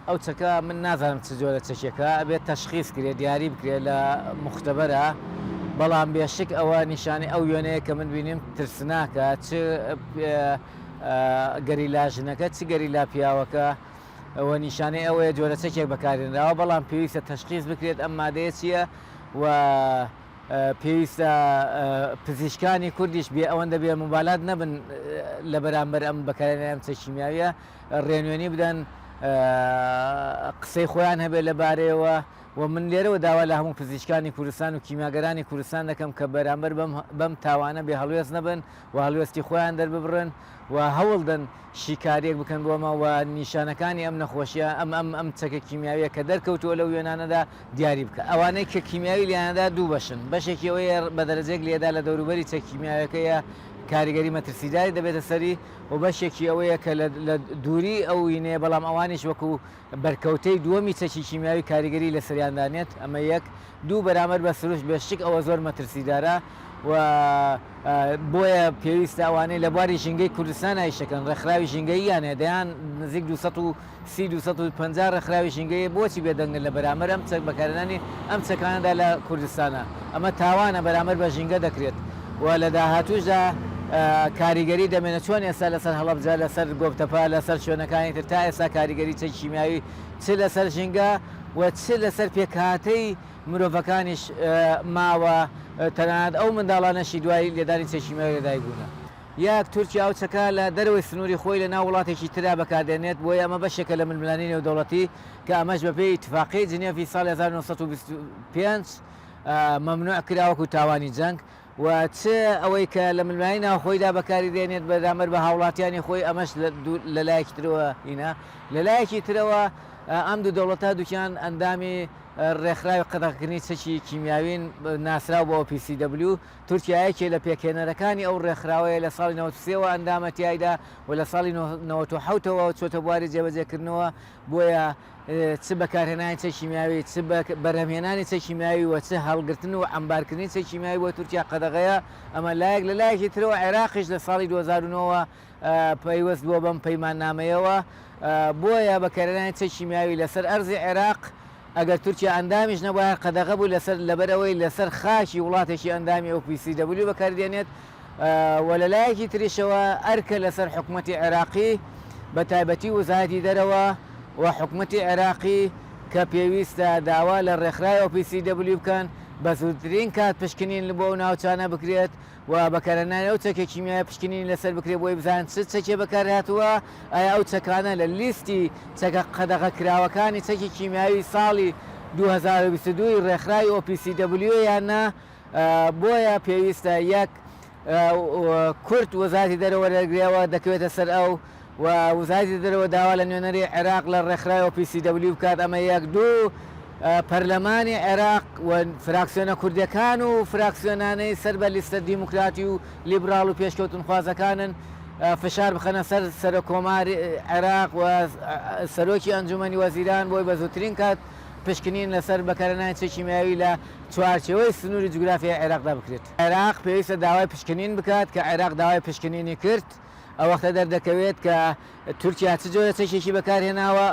ئەو چەکە من نازانم چ جۆرە چەکێکە ئەبێت تەشخیس کرێت دیاری بکرێت لە مختبەرا بەڵام بێشک ئەوە نیشانی ئەو وێنەیە کە من بینیم ترسناکە چ گەریلا ژنەکە چ گەریلا پیاوەکە ئەوە نیشانەی ئەوەیە جۆرە چەکێک بەکارێنراوە بەڵام پێویستە تەشخیز بکرێت ئەم مادەیە چییە و پێویستە پزیشکانی کوردیش بێ ئەوەندە بێ مبالات نەبن لە بەرامبەر ئەم بەکارێنیان چەشیمیاویە ڕێنوێنی بدەن قسەی خۆیان هەبێت لە بارەیەوە و من لێرەوە داوا لە هەموو پزیشکانی کوردستان و کیماگەرانی کوردستان دەکەم کە بەرامبەر بەم تاوانە بێ هەڵوێز نەبن و هەلوێستی خۆیان دەرببڕن و هەوڵدن شیکاریەک بکەن بۆمە و نیشانەکانی ئەم نەخۆشیە ئەم ئەم ئەم چەکە کیمیاویە کە دەرکەوتووە لە وێنانەدا دیاری بکە ئەوانەی کە کیمیاوی لیانەدا دوو بەشن بەشێکی ئەوەیە بە دەرەجێک لێدا لە دەوروبەری چەکیمیاوەکەیە کاریگەری مەترسیداری دەبێتە سەری و بەشێکی ئەوەیە کە لە دووری ئەو وینەیە، بەڵام ئەوانیش وەکو بەرکەوتەی دووەمی چەکی کیمیاوی کاریگەری لەسەریان دانێت، ئەمە یەک، دوو بەرامبەر بە سروشت بێ شک ئەوە زۆر مەترسیدارە و بۆیە پێویستە ئەوانەی لە بواری ژینگەی کوردستان ئایشەکەن، ڕێکخراوی ژینگەییان هەیە دەیان نزیک دوو سەد و. سی دوو سەد و پەنجا ڕێکخراوی ژینگەیی بۆچی بێدەنگن لە بەرامەر ئەم چەک بەکارهێنانی ئەم چەکانەدا لە کوردستانا؟ ئەمە تاوانە بەرامەر بە ژینگە دەکرێت و لە داهاتووشدا کاریگەری دەمێنێت چۆن ئێستا لەسەر هەڵەبجە لەسەر گۆپتەپە لەسەر شوێنەکانی تر تا ئێستا کاریگەری چەکی کیمیاوی چ لەسەر ژینگە و چ لەسەر پێکهاتەی مرۆڤەکانیش ماوە تەنانەت ئەو منداڵانەشی دوای لێدانی چەکی کیمیاوی لەدایک بوونە یەک، تورکیا ئەو چەکە لە دەرەوەی سنووری خۆی لە ناو وڵاتێکی تردا بەکار دێنێت، بۆیە ئەمە بەشێکە لە ململانێی نێودەوڵەتی کە ئەمەش بە پێی ئیتفاقیی جنێڤی ساڵی هەزار و نۆ سەد و بیست و پێنج مەمنووع کرا وەکوو تاوانی جەنگ و چ ئەوەی کە لە ململانێی ناوخۆیدا بەکاری دێنێت بەرامبەر بە هاوڵاتیانی خۆی ئەمەش لە لایەکی ترەوە هینا لە لایەکی ترەوە ئەم دوو دەوڵەتە دووکیان ئەندامی ڕێکخراوی قەدەغەکردنی چەکی کیمیاوین ناسراو بۆ PCW تورکیا یەکێ لە پێکهێنەرەکانی ئەو ڕێکخراوەیە، لە ساڵی نەوەد و سێ وە ئەندامە تیایدا و لە ساڵی نەوەد و حەوت ەوە چۆتە بواری جێبەجێکردنەوە، بۆیە چ بەکارهێنانی چەک کیمیاوی، چ بەرهەمهێنانی چەک کیمیاوی و چ هەڵگرتن و عەمبارکردنی چەک کیمیاوی بۆ تورکیا قەدەغەیە، ئەمە لایەک، لە لایەکی ترەوە عێراقیش لە ساڵی دوو هەزار و نۆ وە پەیوەست بووە بەم پەیماننامەیەوە، بۆیە بەکارهێنانی چەکی کیمیاوی لەسەر ئەرزی عێراق، ئەگەر تورکیا ئەندامیش نەبوایە، قەدەغە بوو لەسەر، لەبەرئەوەی لەسەر خاکی وڵاتێکی ئەندامی OPCW بەکاریدێنێت و لە لایەکی تریشەوە ئەرکە لەسەر حکومەتی عێراقی بە تایبەتی وزارەتی دەرەوە و حکومەتی عێراقی کە پێویستە داوا لە ڕێکخراوی OPCW بکەن بە زووترین کات پشکنین بۆ ئەو ناوچانە بکرێت و بەکارهێنانی ئەو چەکە کیمیایە پشکنینی لەسەر بکرێت بۆی بزانن چ چەکێ بەکارهاتووە، ئایا ئەو چەکانە لە لیستی چەکە قەدەغەکراوەکانی چەکی کیمیاوی ساڵی دوو هەزار و بیست و دوو ی ڕێکخراوی OPCW ە یان نا، بۆیە پێویستە یەک کورت وەزارەتی دەرەوە دەرکرێ و دەکەوێتە سەر ئەو و وزایتی دەرەوە داوا لە نوێنەری عێراق لە ڕێکخراوی OPCW بکات ئەمە یەک دوو پەرلەمانی عێراق و فراکسیۆنە کوردەکان و فراکسیۆنانەی سەر بە لیستە دیموکراتی و لیبراڵ و پێشکەوتنخوازەکانن فشار بخەنە سەر سەرۆک کۆماری عێراق و سەرۆکی ئەنجومەنی وەزیران بۆی بە زووترین کات پشکنین لەسەر بەکارهێنانی چەکی کیمیاوی لە چوارچێوەی سنووری جوگرافیای عێراقدا بکرێت. عێراق پێویستە داوای پشکنین بکات کە عێراق داوای پشکنینی کرد. ئەوەختە دەردەکەوێت کە تورکیا چ جۆرە چەکێکی بەکارهێناوە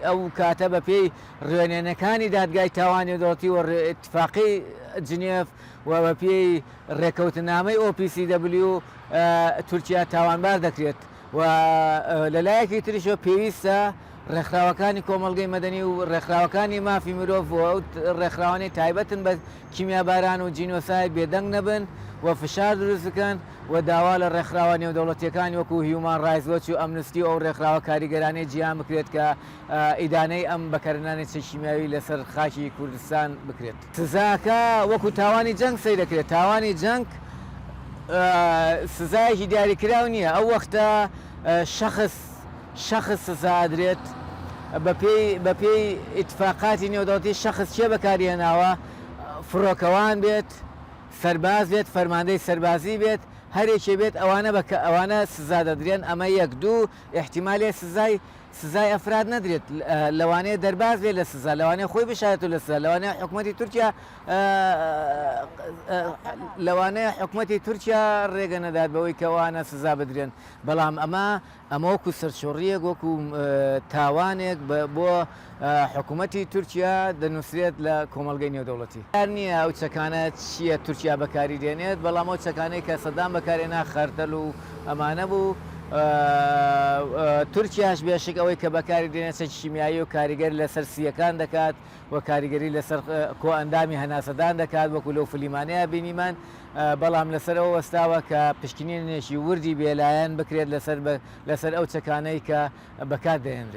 ئەو کاتە بە پێی ڕوێنێنەکانی دادگای تاوانی دەڵتی و اتفاقی جنێف و بە پێی ڕێکەوتنامەی OPCW تورکیا تاوانبار دەکرێت و لەلایەکی تریشە پێویستە ڕێکخراوەکانی کۆمەلگەی مەدەنی و ڕێکخراوەکانی مافی مرۆڤ و ڕێکخراوانی تایبەتن بە کیمیاباران و جینۆساید بێدەنگ نەبن و فشار دروست بکەن و داوا لە ڕێکخراوە نێودەوڵەتییەکان وەکو هیومان ڕایتس وەچ و ئەمنستی و ئەو ڕێکخراوە کاریگەرانەی جیهان بکرێت کە ئیدانەی ئەم بەکارهێنانی چەکی کیمیاوی لەسەر خاکی کوردستان بکرێت. سزاکە وەکو تاوانی جەنگ سەیر دەکرێت، تاوانی جەنگ سزایەکی دیاریکراو نییە، ئەو وەختە شەخس، شەخس سزا ئەدرێت بەپێی بەپێی ئیتفاقاتی نێودەوڵەتی شەخس کێ بەکاری هێناوە فڕۆکەوان بێت سەرباز بێت فەرماندەی سەربازی بێت هەرێکێ بێت ئەوانە بەکە ئەوانە سزا دەدرێن ئەمە یەک دوو ئیحتیمالێ سزای سزای ئەفراد نەدرێت لەوانەیە دەرباز بێت لە سزا لەوانەیە خۆی بشارێتەوە لە سزا لەوانەیە حکومەتی تورکیا لەوانەیە حکومەتی تورکیا ڕێگە نەدات بەوەی کەوانە سزا بدرێن بەڵام ئەمە ئەمە وەکو سەرچۆڕییەک، وەکو تاوانێک بۆ حکومەتی تورکیا دەنوسرێت لە کۆمەڵگەی نێودەوڵەتی. دیار نییە ئەو چەکانە چییە تورکیا بەکاری دێنێت، بەڵام ئەو چەکانەی کە سەدام بەکارهێنا خەردەل و ئەمانە بوو. تورکیاش بێشک ئەوەی کە بەکاری دێنێت چەکی کیمیایی و کاریگەر لەسەر سییەکان دەکات. و کاریگەری لەسەر کۆئەندامی هەناسەدان دەکات وەکو لەو فلیمانەیا بینیمان بەڵام لەسەر ئەو وەستاوە کە پشکنینێکی وردی بێلایەن بکرێت لەسەر لەسەر ئەو چەکانەی کە بەکار دەێنرێت.